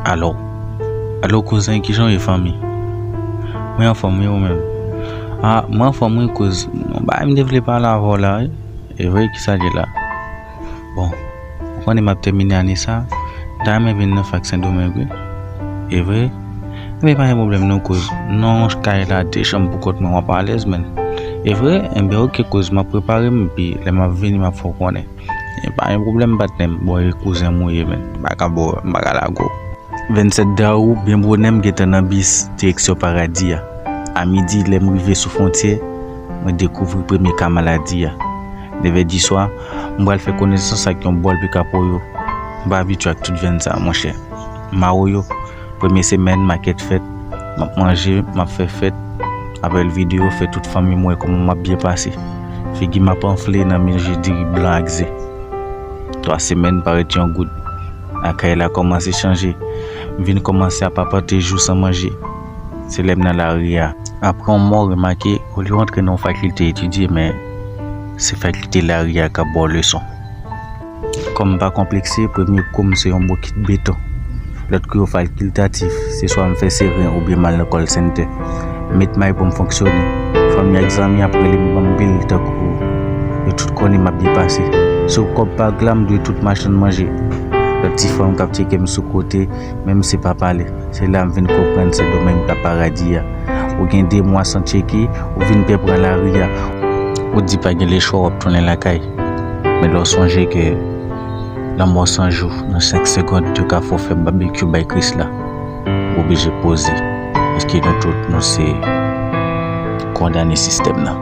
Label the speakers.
Speaker 1: Alo Alo kouzen kijan w ye fanmi Mwen anfòm wi ou menm A mwen anfòm wi kouz Gon bagay m te vle pale avè w la wi E vre kisa ki la Bon ou konnen m ap tèmine ane sa M ta renmen vin nan fak sendomeng wi E vre Ebyen e pa gen pwoblèm non kouz M nan yon kay la de chanm pou kont mwen m ap alèz menn E vre Ebyen ok kouz m ap prepare m epi lè m ap vini m ap fè w konnen. E pa gen pwoblèm patnè m. Bon e kouzenm ou ye menn. M pa ka bo, m pa ka lague w. 27 dawou, byen bonè m gentan nan bis direksyon paradi a. A midi lè m rive sou fwontyè, mwen dekouvri premye ka maladi a. Nevè diswa, m pral fè konesans ak yon bòl pikapoyo. M pa abitye ak tout venn sa monchè. Mawoyo. Premye semèn makèt fèt map manje map fè fèt apèl video fè tout fanmim wè kòman map byen pase figim ap anfle nan manje diri blan ak ze 3 semèn parèt yon goud lakay la kòmanse chanje m vin kòmanse ap apante jou san manje se lèm nan lari a apran yon mò remake olye w antre nan yon fakilte etidye men se fakilte lari a kap baw leson. Kou m pa konplekse, premye kou m se yon bokit beton. Lòt kou yo falkiltatif, se swa m fè seren oubyen m al nan call center. M met may pou m fonksyone. Fanmi ak zanmi ap rele m ban m bil tankou yo tout konnen m ap byen pase. Sou kòb pag la m dwe tout machann manje. Lòt ti fanm k ap tyeke m sou kote, menm se pa pale. Se la m vin konprann Sen Domeng pa paradi a. Ou gen 2 mwa san tyeke, ou vin pè pran lari a. Ou di pa gen lechwa w ap tounen lakay. Men lè w sonje ke lanmò san jou nan senk segond yo ka fè w fè babekyou bay Kris la, w oblije poze, èske nou tout nou se kondane sistèm nan?